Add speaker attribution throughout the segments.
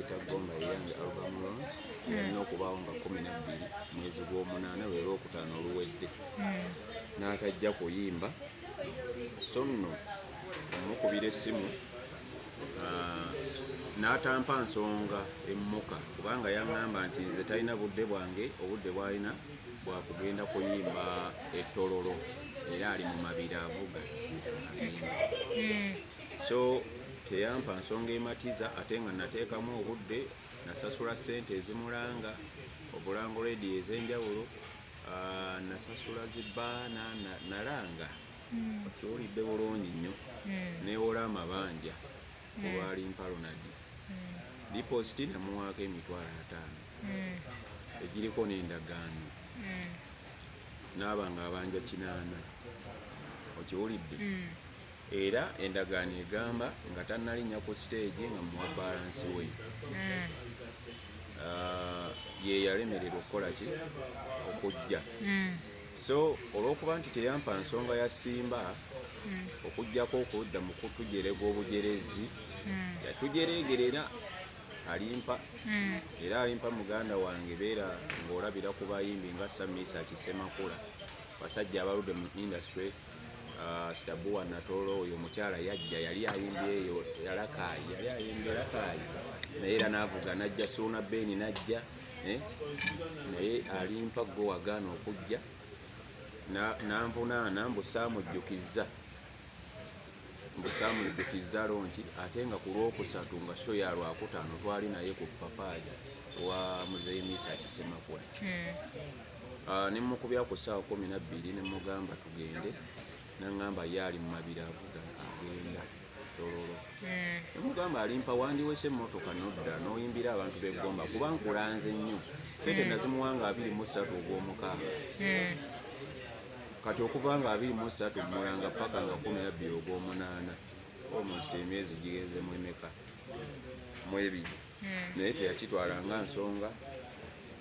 Speaker 1: Gomba eyange album launch yalina hmm. okubaawo nga kumi nabbiri mwezi gw'omunaana lwe lwokutaano oluwedde hmm. n'atajja kuyimba so nno omukubira essimu ah, n'atampa nsonga emmuka kubanga yaŋŋamba nti nze talina budde bwange obudde bwalina bwakugenda kuyimba ettololo era ali mu mabiri avuga hmm. so teyampa nsonga ematiza ate nga nateekamu obudde nasasula ssente ezimulanga obulango redi ez'enjawulo ah, nasasula zibaana nalanga hmm. okiwulidde bulungi nnyo hmm. newola amabanja hmm. olwali mpalonadi dipositi namuwaako emitwalo ataano egiriko n'endagaano naaba nga abanja kinaana okiwulidde era endagaano egamba nga tannalinnya ku siteegi nga muwa balansi we hmm. ah, ye yalemererwa okukola ki okujja hmm. so olw'okuba nti teyampa nsonga ya simba hmm. okugyako okudda mu kutujerega obujerezi yatujereegera era alimpa era alimpa muganda wange beera ng'olabira ku bayimbi nga samiisa kisemakula basajja abaludde mu industry Ah, sitabuwa natoolo oyo omukyala yajja yali ayimba eyo yalakaayi yali ayimba erakaayi naye era navuga najja suuna beeni najja eh? naye alimpa gwe wagaana okujja nanvunaana mbusaamujjukizza mbusaamujjukizza lonki ate nga ku lwokusatu nga so ya lwakutaano twali naye ku papaaja wa muzeeyi miisa akisemakula hmm. Ah, ne mukubya ku ssaawa kumi na bbiri ne mugamba tugende nangamba ye ali mu mabiri avuga agenda tololo hmm. nemugamba alimpa wandiwese emmotoka nodda noyimbira abantu begomba kuba nkulanze nnyo sente hmm. nazimuwanga abiri mu ssatu ogw'omukaaga hmm. kati okuva nga abiri mu ssatu mulanga paka nga kumi na bbiri ogw'omunaana almost emyezi gigezemu emeka mwebiri hmm. naye teyakitwala nga nsonga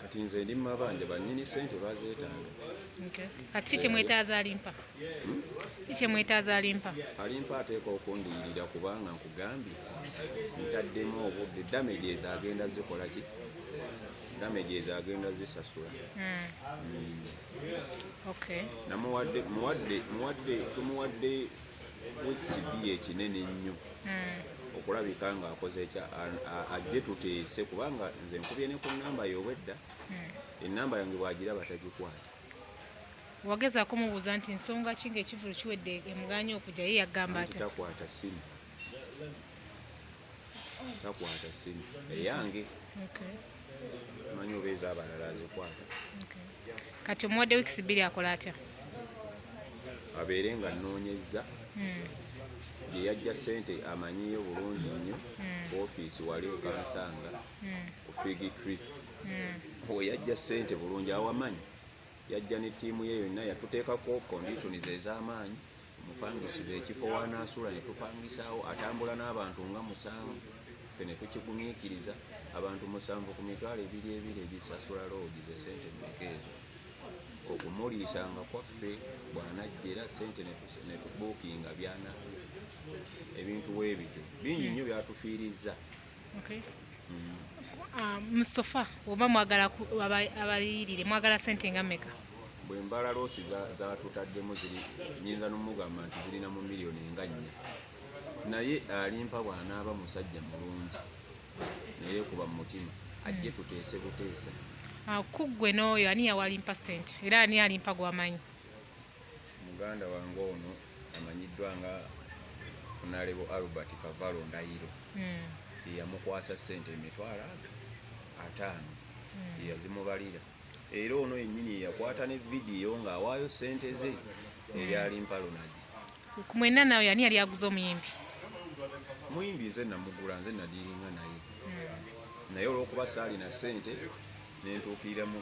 Speaker 1: kati nze ndi mumabanja banyini sente bazetanga kati
Speaker 2: kikyemwetaaza alimpa hmm? kikyemwetaaza alimpa
Speaker 1: alimpa ateeka okundiyirira kubanga nkugambye ntaddemu obudde damage ezo agenda zikola ki damage ezo agenda zisasula hmm. Hmm. namuwadde tumuwadde ekisibi ekinene ennyo hmm. okulabika nga akoze ekya ajje tuteese kubanga nze nkubye ne ku namba yobwedda hmm. enamba yange bwagira batagikwata
Speaker 2: wageza kumubuuza nti nsonga ki ngaekivulu kiwedde emuganya okujja ye yagamba ati takwata simu
Speaker 1: takwata simu eyange manyi oba ezabalala azikwata
Speaker 2: kati omuwadde wiks bbiri akola atya
Speaker 1: abeere nga noonyezza hmm. yeyajja sente amanyiyo bulungi nnyo hmm. ofiisi wali okansanga hmm. ofigi trip oyajja sente bulungi awamanyi yajja ne ttiimu ye yonna yatuteekako konditioni zez'amaanyi mupangisiza ekifo wanaasula ne tupangisaawo atambula n'abantu nga musanvu fe ne tukigumiikiriza abantu musanvu ku mitwalo ebiri ebiri ebisasula loogi ze sente mmeka ezo okumuliisanga kwaffe bw'anajja era sente ne tubuukinga byana ebintu weebityo bingi nnyo byatufiirizza Okay. Mm.
Speaker 2: Uh, musofa oba mwagala abayirire mwagala sente nga meka bwe mbala loosi
Speaker 1: zatutaddemu za ziri nyinza nomugamba nti zirina mu miliyoni nga nnya naye alimpa bwanaaba musajja mulungi naye kuba mu mutima ajje hmm. tuteese buteesa ah, kuggwe
Speaker 2: n'oyo ani yawalimpa sente era ani alimpa gwamanyi
Speaker 1: Muganda wange ono amanyiddwa nga Onalebo Albert Kavalo Ndayiro hmm. yeyamukwasa sente emitwalo ago ataano hmm. yeyazimubalira era ono yennyini yeyakwata ne vidiyo ng'awaayo sente ze eryali hmm. mpalonagi ku mwenna
Speaker 2: nawe yani yali aguze omuyimbi
Speaker 1: muyimbi nze namugula nze nadiringa naye naye olwokuba saalina sente nentuukirira mu